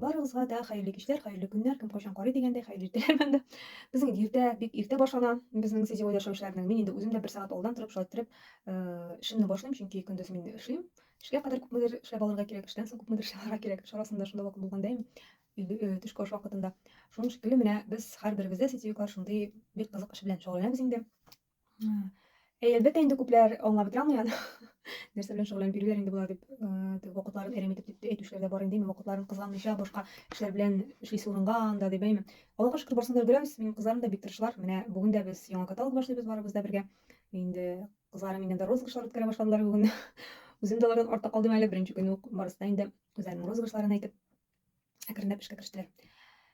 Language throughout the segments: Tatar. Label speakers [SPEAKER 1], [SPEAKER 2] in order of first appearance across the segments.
[SPEAKER 1] Барыгызга да хәерле кичләр, хәерле көннәр, кем кайчан карый дигәндәй, хәерле иртәләр дә. Безнең иртә, бик иртә башлана, безнең сетевой яшәүчеләрнең. Мин инде үзем дә бер сәгать алдан торып, шулай торып, э, эшемне башлыйм, чөнки көндез мин эшлим. Эшкә кадәр күпмедер эшләп алырга кирәк, эштән соң күпмедер эшләп алырга кирәк. Эш арасында шунда вакыт булганда инде, э, төшке аш вакытында. Шуның шикелле менә без һәрберебез дә сетевиклар шундый бик кызык эш белән шөгыльләнәбез инде. Әй, әлбәттә, инде күпләр аңлап бетерә алмый аны. Нәрсә белән шөгыльләнеп йөриләр инде болар дип, дип вакытларын әрәм итеп дип әйтүчеләр дә бар инде, вакытларын кызганмыйча башка эшләр белән эшлисе урынга анда дип әйме. Аллага шөкер, барсын да өлгерәбез. Минем кызларым да бик тырышлар. Менә бүген дә без яңа каталог башлыйбыз барыбыз да бергә. Инде кызларым инде розыгрышлар үткәрә башладылар бүген. Үзем дә алардан артта калдым әле, беренче көнне үк барысы да инде үзләренең розыгрышларын әйтеп әкренләп эшкә керештеләр.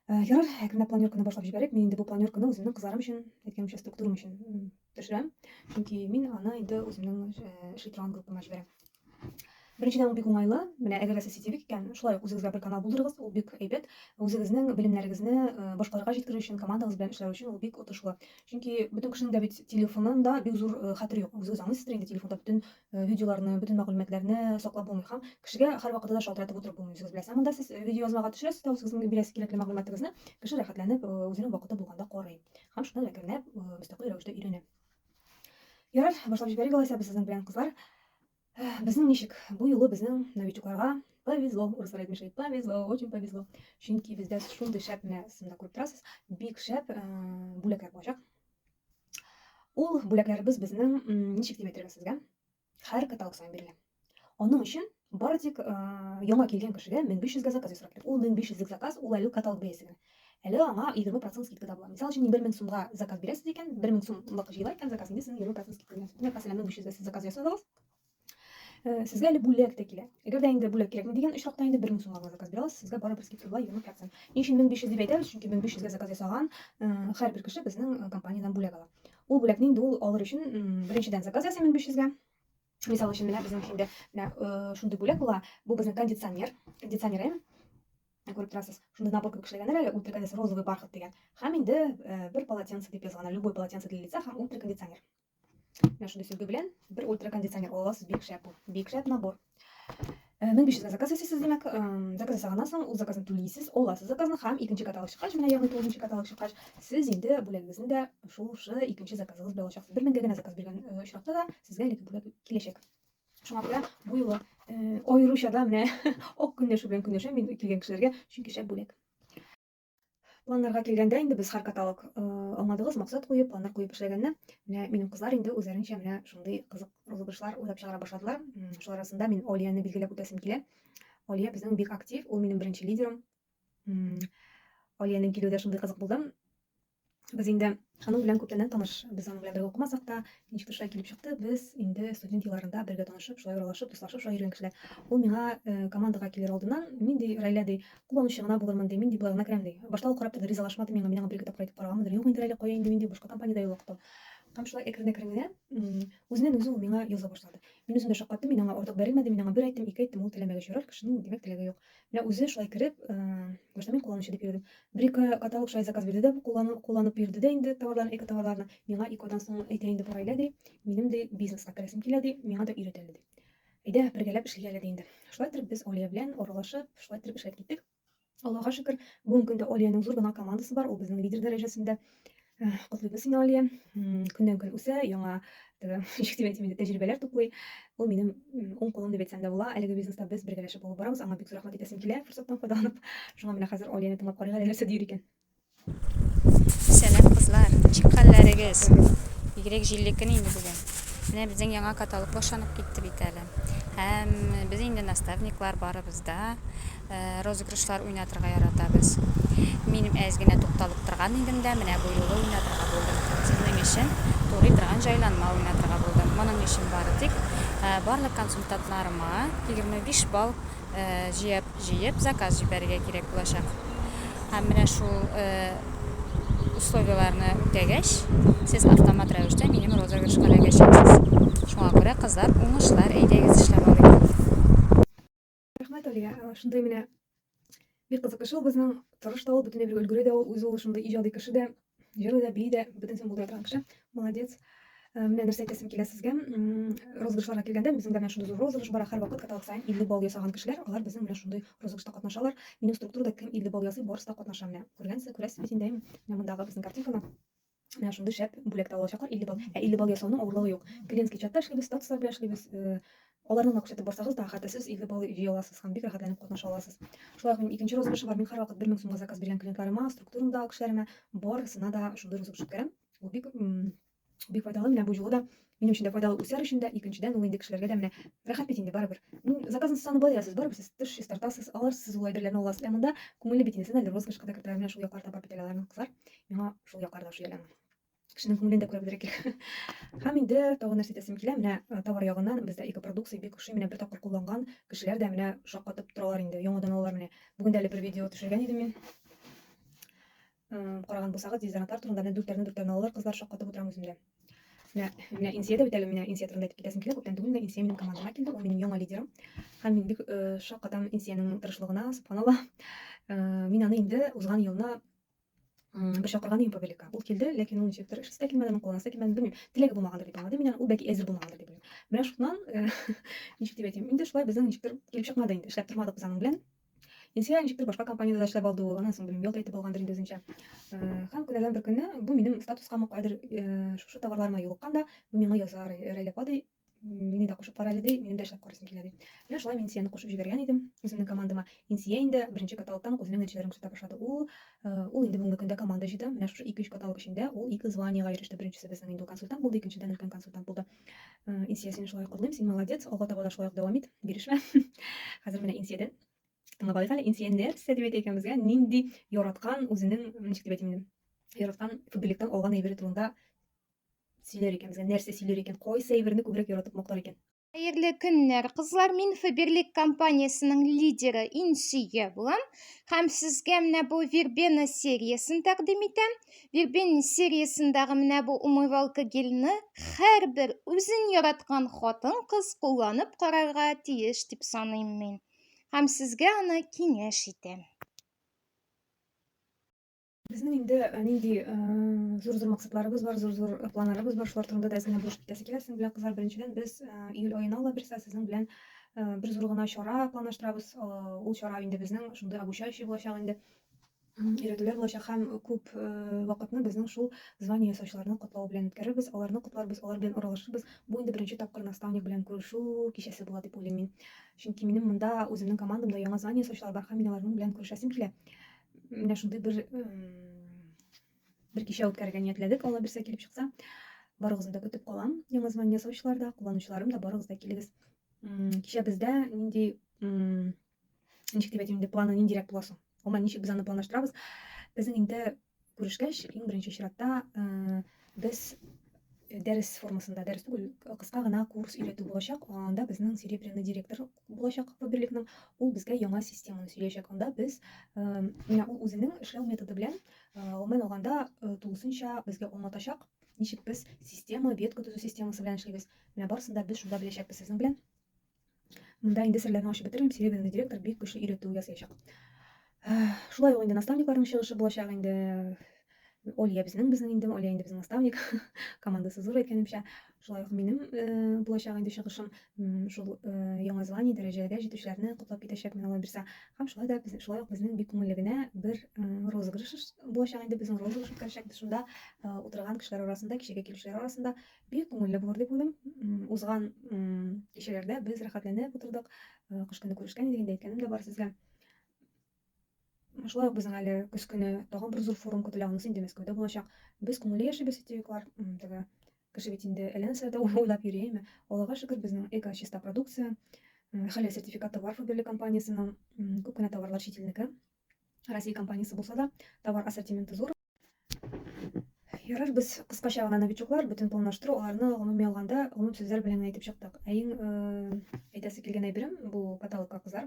[SPEAKER 1] Э, ярар, әкренләп планерканы башлап җибәрик. Мин инде бу планерканы үземнең кызларым өчен, әйткәнемчә, структурам өчен төшерәм. Чөнки мин аны инде үземнең э, эшли торган группама җибәрәм. Беренчедән ул бик уңайлы. Менә әгәр сез сетевик икән, шулай ук үзегезгә бер канал булдырыгыз, ул бик әйбәт. Үзегезнең белемнәрегезне э, башкаларга җиткерү өчен, командагыз белән эшләү өчен ул бик отышлы. Чөнки бөтен кешенең дә бит телефонында бик зур э, хәтер юк. Үзегез аңлыйсыздыр инде, телефонда бөтен Э, видеоларны, бөтен мәгълүматларны саклап булмый һәм кешегә һәрвакытта да шалтыратып утырып булмый, үзегез беләсез. Ә монда сез э, видеоязмага төшерәсез дә үзегезнең бирәсез кирәкле мәгълүматыгызны, кеше рәхәтләнеп, э, үзенең вакыты булганда карый һәм шуннан әкренләп мөстәкыйль рәвештә өйрәнә. Ярар, башлап җибәрик алайса без сезнең белән, кызлар. Безнең ничек? Бу юлы безнең новичокларга повезло, урыслар әйтмешли, повезло, очень повезло. Чөнки бездә шундый шәп, менә сымда күреп торасыз, бик шәп бүләкләр булачак. Ул бүләкләребез безнең ничек дип әйтергә сезгә? Һәр каталог саен бирелә. Аның өчен бары тик э, яңа килгән кешегә 1500 га заказ ясарга кирәк. Ул 1500 лек заказ, ул әле каталог бәясе генә. Әле аңа 20% скидка да була. Мисал өчен, 1000 сумга заказ бирәсез икән, 1000 сумлык җыела икән заказ, инде сезнең 20% скидка. Мәсәлән, 1500 га сез заказ ясадыгыз, Сезгә әле бүләк тә килә. Әгәр дә инде бүләк кирәкми дигән очракта инде 1000 сумга заказ бирә аласыз, сезгә барыбер скидка була 20 процент. Ни өчен 1500 дип әйтәбез? Чөнки 1500 гә заказ ясаган һәрбер кеше безнең компаниядән бүләк ала. Ул бүләкне инде ул алыр өчен беренчедән заказ ясый 1500 гә. Мисал өчен менә безнең инде менә шундый бүләк була. Бу безнең кондиционер, кондиционер эм. Күреп торасыз, шундый набор кебек эшләгәннәр әле, ультракондиционер розовый бархат дигән. Һәм инде бер полотенце дип язган, любой полотенце для лица һәм ультракондиционер. Менә шундый сөлге белән бер ультракондиционер аласыз, бик шәп ул. Бик шәп набор. 1500 заказ ясыйсыз, димәк, заказ ясаганнан соң ул заказны түлисез, аласыз заказны һәм икенче каталог чыккач, менә ягъни тугызынчы каталог чыккач, сез инде бүләгегезне дә шушы икенче заказыгыз белән алачаксыз. 1000 генә заказ биргән очракта да сезгә әлеге бүләк киләчәк. Шуңа күрә бу юлы аеруча да менә ак көнләшү белән көнләшәм мин килгән кешеләргә, чөнки шәп бүләк. Планнарга килгәндә, инде без һәр каталог э, аңладыгыз, максат куеп, планнар куеп эшләгәнне. Менә минем кызлар инде үзләренчә менә шундый кызык розыгрышлар уйлап чыгара башладылар. Шулар арасында мин Олияны билгеләп үтәсем килә. Олия безнең бик актив, ул минем беренче лидерым. Олиянең килүе дә шундый кызык булды. Без инде аның белән күптәннән таныш. Без аның белән бергә укымасак та, ничектер шулай килеп чыкты. Без инде студент елларында бергә танышып, шулай аралашып, дуслашып шулай йөргән кешеләр. Ул миңа э, командага килер алдыннан, мин ди Райлә ди, кулланучы гына булырмын ди, мин ди болай гына керәм ди. Башта ул карап торды, ризалашмады миңа, мин аңа бер-ике тапкыр әйтеп караганмындыр. Юк инде Райлә, кая инде мин ди, башка компаниядә юлыктым. Һәм шулай әкрен-әкрен генә м, үзеннән үзе ул миңа яза башлады. Мин үзем дә шаккаттым, мин аңа артык бәрелмәдем, мин аңа бер әйттем, ике әйттем, ул теләмәгәч ярар, кешенең димәк теләге юк. Менә үзе шулай кереп, башта мин кулланучы дип йөрдем. Бер-ике каталог шулай заказ бирде дә, кулланып йөрде дә инде товарларын, эко-товарларны. Миңа ике айдан соң әйтә инде, Фаилә ди, минем ди бизнеска керәсем килә ди, миңа да өйрәт әле ди. Әйдә, бергәләп эшлик әле ди инде. Шулай итеп без Алия белән аралашып, шулай итеп эшләп киттек. Аллага шөкер, бүгенге көндә Алиянең зур гына командасы бар, ул безнең лидер дәрәҗәсендә. Э, Котлыйбыз сине, Алия. М, Көннән көн үсә, яңа теге, ничек дип әйтим инде, тәҗрибәләр туплый. Ул минем м, уң кулым дип әйтсәм дә була. Әлеге бизнеста без бергәләшеп алып барабыз. Аңа бик зур рәхмәт әйтәсем килә, форсаттан файдаланып. Шуңа менә хәзер Алияне тыңлап карыйк әле нәрсә дияр икән. Сәлам
[SPEAKER 2] кызлар, ничек хәлләрегез? Бигрәк җилле көн инде бүген. Менә безнең яңа каталог башланып китте бит әле. Һәм без инде наставниклар барыбыз да. Ә, розыгрышлар уйнатырга яратабыз. Мин әз генә тукталып торган идем дә, менә бу юлы уйнатырга булдым. Сезнең өчен турый торган җайланма уйнатырга булдым. Моның өчен бары тик, ә, барлык консультантларыма 25 балл, ә, җыеп, җыеп заказ җибәрергә кирәк булачак. Һәм менә шул, ә, условиеләрне үтәгәч, сез автомат рәвештә минем розыгрышка эләгәчәксез. Шуңа күрә, кызлар, уңышлар, әйдәгез эшләп алыйк. Рәхмәт,
[SPEAKER 1] Алия. Шундый менә бик кызык шул безнең тырыш та ул, бөтенләй бер өлгере дә ул, үзе ул шундый иҗади кеше дә, җырлый да, бии дә, бөтенсен булдыра торган кеше. Молодец. Э, менә нәрсә әйтәсем килә сезгә. Розыгышларга килгәндә, безнең дә менә шундый зур розыгыш бар. Һәр вакыт каталог саен 50 балл ясаган кешеләр, алар безнең менә шундый розыгышта катнашалар. Минем структурада кем 50 балл ясый, барысы да катнаша менә. Күргәнсез, күрәсез бит инде, менә мондагы безнең картинканы. Менә шундый шәп бүләк тә алачаклар 50 балл. Ә 50 балл ясауның авырлыгы юк. Клиентский чатта эшлибез, статуслар белән эшлибез. Э, аларны гына күрсәтеп барсагыз да, хәтта сез 50 балл җыя аласыз һәм бик рәхәтләнеп катнаша аласыз. Шулай ук минем икенче розыгрыш бар. Мин һәрвакыт 1000 сумга заказ биргән клиентларыма, структурамдагы кешеләремә барысына да шундый розыгрыш үткәрәм. Ул бик бик файдалы. Менә бу юлы да Минем өчен дә файдалы үсәр өчен дә, икенчедән ул инде кешеләргә дә менә рәхәт бит инде барыбер. Мин заказны саны болай ясыз, барыбер сез тыш чистартасыз, алар сез ул әйберләрне аласыз, ә монда күңелле бит инде, сез әле розыгрышка да кертәләр, менә шул яклар да бар бит әле аларның кызлар, миңа шул яклар да ошый әле аның. Кешенең күңелен дә күрә белергә кирәк. Һәм инде тагын нәрсә әйтәсем килә, менә э, товар ягыннан бездә экопродукция бик ошый, менә бер тапкыр кулланган кешеләр дә менә шаккатып торалар инде, яңадан алалар менә. Бүген дә әле бер видео төшергән идем мин. Караган булсагыз, дезодорантлар турында менә дүртләрне дүртләрне алалар, кызлар шаккатып утырам үземдә. Менә, менә Инсия дә бит әле, менә Инсия турында әйтеп китәсем килә, күптән түгел менә Инсия минем командама килде, ул минем яңа лидерым. Һәм мин бик э, шаккатам Инсиянең тырышлыгына, субханалла. Э, мин аны инде узган елны бер чакырган идем павеликка. Ул килде, ләкин ул ничектер эшесе дә килмәде, аның кулланасы да килмәде, белмим. Теләге булмагандыр дип аңладым мин аны, ул бәлки әзер булмагандыр дип уйлыйм. Менә шуннан, э, ничек дип әйтим, инде шулай безнең ничектер килеп чыкмады инде, эшләп тормадык без аның белән. Илсөя ничектер башка компаниядә дә эшләп алды ул, аннан соң белмим, ял да итеп алгандыр инде үзенчә. Һәм көннәрдән бер көнне бу минем статускамы кайдыр шушы товарларыма юлыккан да, бу миңа яза, Рәйлә апа ди, мине дә кушып кара әле ди, минем дә эшләп карыйсым килә ди. Менә шулай мин Инсияне кушып җибәргән идем үземнең командама. Инсия инде беренче каталогтан ук үзенең нәтиҗәләрен күрсәтә башлады. Ул ул инде бүгенге көндә команда җыйды. Менә шушы 2-3 каталог эчендә ул ике званиегә иреште. Беренчесе безнең инде ул консультант булды, икенчедән өлкән консультант булды. Э, Инсия, сине шулай котлыйм, син молодец, алга таба да шулай ук дәвам ит, бирешмә. Хәзер менә Инсиядән тыңлап алыйк әле. Инсия нәрсә дип әйтә икән безгә? Нинди яраткан үзенең, ничек дип әйтим инде? Яраткан футболиктан алган әйбере турында сөйләр икән безгә, нәрсә сөйләр икән, кайсы әйберне күбрәк яратып мактар икән? Хәерле көннәр,
[SPEAKER 3] кызлар. Мин Фаберлик компаниясенең лидеры Инсия булам. Һәм сезгә менә бу вербена сериясен тәкъдим итәм. Вербенин сериясендәге менә бу умывалка гельны һәрбер үзен яраткан хатын-кыз кулланып карарга тиеш дип саныйм мин. Һәм сезгә аны киңәш итәм.
[SPEAKER 1] Безнең инде э, нинди э, зур-зур максатларыбыз бар, зур-зур планнарыбыз бар, шулар турында да әз генә булышып китәсе килә сезнең белән, кызлар. Беренчедән, без э, июль аена ала бирсә сезнең белән бер зур гына чара планлаштырабыз. Ул чара инде безнең шундый обучающий булачак инде. өйрәтүләр булачак һәм күп э, вакытны безнең шул звание ясаучыларны котлау белән үткәрербез, аларны котларбыз, алар белән уралашырбыз. Бу инде беренче тапкыр наставник белән күрешү кичәсе була дип уйлыйм мин. Чөнки минем монда үземнең командамда яңа звание ясаучылар бар һәм мин аларның белән күрешәсем килә. Менә шундый бер бер кичә үткәрергә ниятләдек, Алла бирсә килеп чыкса. Барыгызны да көтеп калам. Яңа звание ясаучылар да, кулланучыларым да барыгыз да килегез. Кичә бездә нинди Ничек дип әйтим инде, планы ниндирәк була соң? Гомумән, ничек без аны планлаштырабыз? Безнең инде күрешкәч, иң беренче чиратта э, без э, дәрес формасында, дәрес түгел, кыска гына курс өйрәтү булачак. Анда безнең серебряный директор булачак Фаберликның. Ул безгә яңа системаны сөйләячәк. Анда без э, менә ул үзенең эшләү методы белән гомумән алганда тулысынча безгә аңлатачак, ничек без система, ветка төзү системасы белән эшлибез. Менә барысын да без шунда беләчәкбез сезнең белән. Монда инде серләрне ачып бетермим, Серебряный директор бик көчле өйрәтү ясаячак. Шулай ук инде наставникларның чыгышы булачак инде. Олия безнең, безнең инде, Олия инде безнең наставник. Командасы зур әйткәнемчә. Шулай ук минем э, булачак инде чыгышым шул э, Яңа Зеландия дәрәҗәгә җитүчеләрне котлап китәчәкмен Алла бирсә. Һәм шулай да без шулай ук безнең бик күңелле генә бер э, розыгрыш булачак инде безнең розыгрыш үткәрәчәкбез. Шунда утырган кешеләр арасында, кичәгә килүчеләр арасында Бик күңелле булыр дип уйлыйм. Узган кичәләрдә без рәхәтләнеп утырдык. Э, кыш көне күрешкән идек, инде әйткәнем дә бар сезгә. Шулай ук безнең әле көз көне тагын бер зур форум көтелә, анысы инде Мәскәүдә булачак. Без күңелле яшибез, сетевиклар. Теге кеше бит инде әллә нәрсә дә уйлап йөри, әйме? Аллага шөкер, безнең эко чиста продукция. Хәләл сертификаты бар Фаберле компаниясенең. Күп кенә товарлар чит илнеке. Россия компаниясе булса да, товар ассортименты зур. Ярар, без кыскача гына новичоклар, бөтен планлаштыру, аларны гомуми алганда, гомум сүзләр белән әйтеп чыктык. Ә иң әйтәсе килгән әйберем бу каталогка кызар.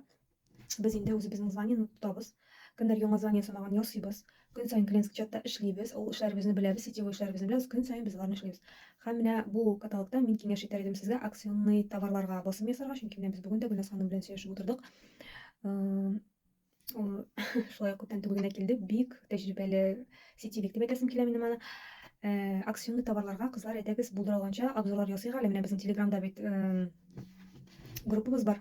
[SPEAKER 1] Без инде үзебезнең званиене тотабыз. Кемдер яңа звание санаган ясыйбыз. Көн саен клиентский чатта эшлибез. Ул эшләребезне беләбез, сетевой эшләребезне беләбез. Көн саен без аларны эшлибез. Һәм менә бу каталогта мин киңәш итәр идем сезгә акционный товарларга басым ясарга, чөнки менә без бүген дә Гөлназ ханым белән сөйләшеп утырдык. Ул шулай ук күптән түгел генә килде. Бик тәҗрибәле сетевик дип әйтәсем килә минем аны. Э, акционный товарларга кызлар әйдәгез булдыра алганча обзорлар ясыйк әле. Менә безнең Телеграмда бит э, группабыз бар.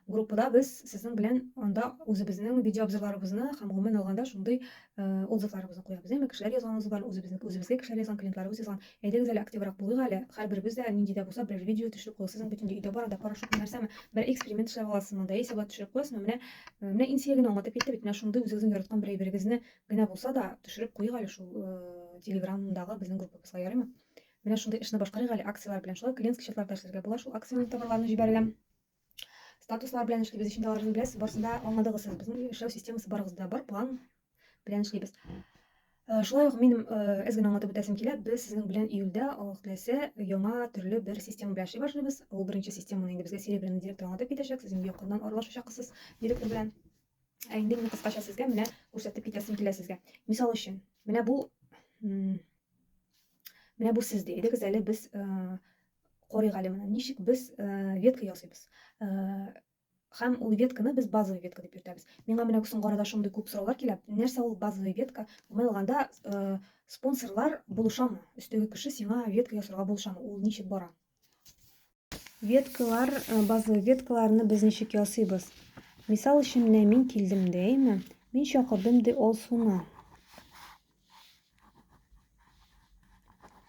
[SPEAKER 1] Группада без сезнең белән анда үзебезнең видеообзорларыбызны һәм гомумән алганда шундый э, отзывларыбызны куябыз. Әмма кешеләр язган отзывлар, үзебезнең үзебезгә кешеләр язган, клиентларыбыз язган Әйдәгез әле активрак булыйк әле, һәрберебез дә нинди дә булса берәр видео төшереп куйгыз. Сезнең бөтен өйдә барында порошокмы, нәрсәме, бер эксперимент эшләп аласызмы, да яисә болай төшереп куясызмы, менә, менә Инсия генә аңлатып китте бит, менә шундый үзегезнең яраткан бер әйберегезне генә булса да төшереп куйыйк әле шул телеграмдагы безнең группабызга, ярыймы? Менә шундый эшне башкарыйк әле, акцияләр белән шулай клиентский счетларда эшләргә була шул, акциянең товарларын җибәргән. Статуслар белән эшлибез, өчен аларны беләсез, барысында аңладыгыз сез. Безнең эшләү системасы барыгызда бар, план белән эшлибез. Э, шулай ук минем э, әз генә аңлатып үтәсем килә, без сезнең белән июльдә Аллаһ теләсә яңа төрле бер система белән эшли башлыйбыз. Ул беренче системаны инде безгә серебряный директор аңлатып китәчәк, сез инде якыннан аралашачаксыз директор белән. Ә инде мин кыскача сезгә менә күрсәтеп китәсем килә сезгә. Мисал өчен, менә бу менә бу сез ди. Идегез әле без э, Корыйк әле моны. Ничек без ветка ясыйбыз? Һәм ул ветканы без базовый ветка дип йөртәбез. Миңа менә соңгы арада шундый күп сораулар килә. Нәрсә ул базовый ветка? Гомумән алганда, спонсорлар булышамы? Өстәге кеше сиңа ветка ясарга булышамы? Ул ничек бара? Веткалар, базовый веткаларны без ничек ясыйбыз? Мисал өчен, менә мин килдем дә, әйме? Мин чакырдым ди ул суны.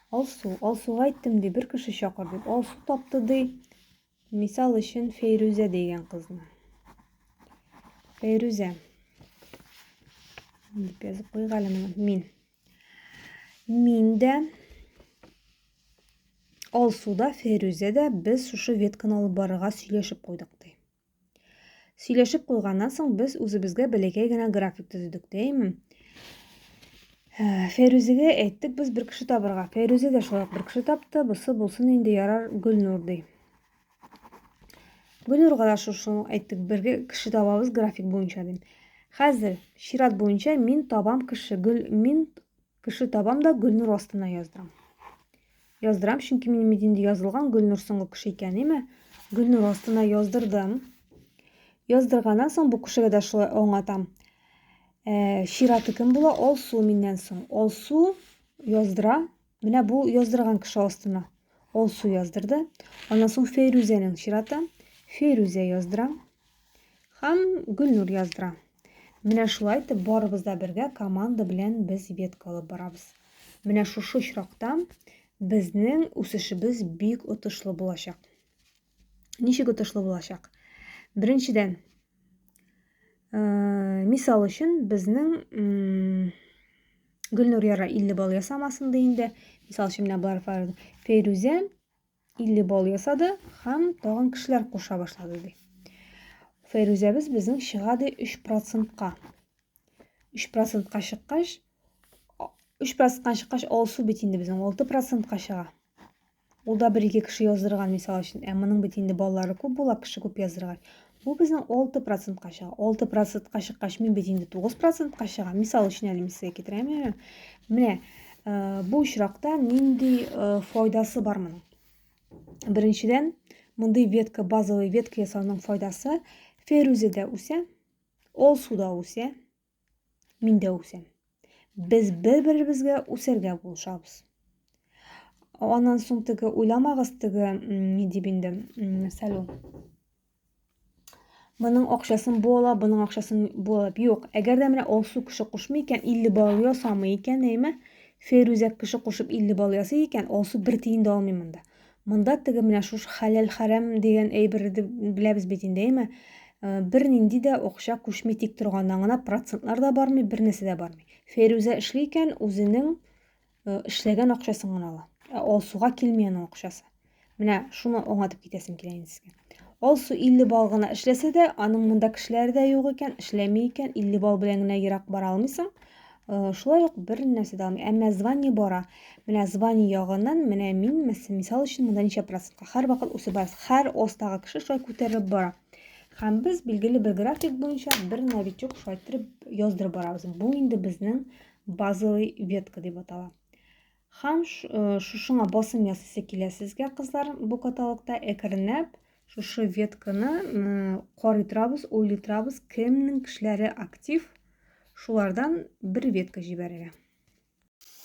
[SPEAKER 1] Алсу, Алсуга әйттем ди, бер кеше чакыр дип. Алсу тапты ди, мисал өчен Фәйрүзә дигән кызны. Фәйрүзә. Дип язып куйыйк әле моны. Мин. Мин дә Алсу да, Фәйрүзә дә без шушы ветканы алып барырга сөйләшеп куйдык ди. Сөйләшеп куйганнан соң без үзебезгә бәләкәй генә график төзедек, дәйме? Ә, Фәйрүзегә әйттек, без бер кеше табырга. Фәйрүзе дә шулай бер кеше тапты, бусы булсын инде ярар Гөлнур ди. Гөлнурга да шушы әйттек, бер кеше табабыз график буенча дим. Хәзер чират буенча мин табам кеше, гөл мин Кеше табам да Гөлнур астына яздырам. Яздырам, чөнки минем идинде язылган Гөлнур соңгы кеше икән, име? Гөлнур астына яздырдым. Яздырганнан соң бу кешегә дә шулай аңлатам. Ә, чираты кем була? Алсу миннән соң. Алсу яздыра. Менә бу яздырган кеше астына. Алсу яздырды. Аннан соң Фейрүзәнең чираты. Фейрүзә яздыра. Һәм Гөлнур яздыра. Менә шулай итеп барыбыз да бергә команда белән без ветка алып барабыз. Менә шушы очракта безнең үсешебез бик отышлы булачак. Ничек отышлы булачак? Беренчедән, э, мисал өчен, безнең Гөлнур яра 50 балл ясамасын ди инде. Мисал өчен, менә бар Фәрүзә 50 бал ясады һәм тагын кешеләр куша башлады ди. Фәйрүзәбез безнең чыга ди 3%-ка. 3%-ка чыккач 3%-ка чыккач алсу бит инде безнең 6%-ка чыга. Ул да бер-ике кеше яздырган мисал өчен. Ә моның бит инде балалары күп була, кеше күп яздыргач. Бу безнең 6 процентка чыга. 6 процентка чыккач, мин бит инде 9 процентка чыга. Мисал өчен әле мин сезгә китерәм. Менә бу очракта нинди файдасы бар моның? Беренчедән, мондый ветка, базовый ветка ясауның файдасы ферузеда үсә, ол суда үсә, Мин дә үсәм. Без бер-беребезгә үсәргә булышабыз. Аннан соң теге уйламагыз теге ни дип инде сәлу. Моның акчасын бу ала, моның акчасын бу ала. Юк, әгәр дә менә Алсу кеше кушмый икән, 50 бал ясамый икән, әйме? Ферүзә кеше кушып 50 бал ясый икән, Алсу бер тиен дә алмый монда. Монда теге менә шушы хәләл-хәрам дигән әйберне беләбез бит инде, әйме? Э, бернинди дә акча күчми тик торган, аңына процентлар да бармый, бер нәрсә дә бармый. Фәйрүзә эшли икән, үзенең э, эшләгән акчасын гына ала. Ә Алсуга килми аның акчасы. Менә шуны аңлатып китәсем килә инде сезгә. Алсу 50 бал гына эшләсә дә, аның монда кешеләре дә юк икән, эшләми икән, 50 бал белән генә ерак бара алмыйсың. Э, шулай ук бер нәрсә дә алмый. Әмма звание бара. Менә звание ягыннан, менә мин, мисал өчен, монда ничә процентка һәр вакыт үсеп барасыз. Һәр остагы кеше шулай күтәрелеп бара. Һәм без билгеле бер график буенча бер новичок шулай иттереп яздырып барабыз. Бу инде безнең базовый ветка дип атала. Һәм шушыңа басым ясыйсы килә сезгә, кызлар, бу каталогта әкренләп шушы ветканы карый торабыз, уйлый торабыз, кемнең кешеләре актив, шулардан бер ветка җибәрергә.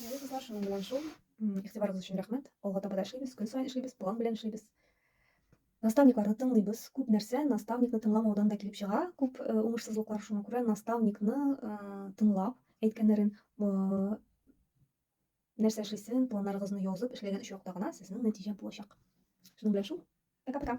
[SPEAKER 1] Ярый, кызлар, шуның белән шул. Игътибарыгыз өчен рәхмәт. Алга таба да эшлибез, көн саен эшлибез, план белән эшлибез. Наставникларны тыңлыйбыз. Күп нәрсә наставникны тыңламаудан да килеп чыга. Күп э, уңышсызлыклар шуңа күрә наставникны э, тыңлап әйткәннәрен э, Нәрсә эшлисен, планнарыгызны язып эшләгән очракта гына сезнең нәтиҗә булачак. Шуның белән шул. Пока-пока.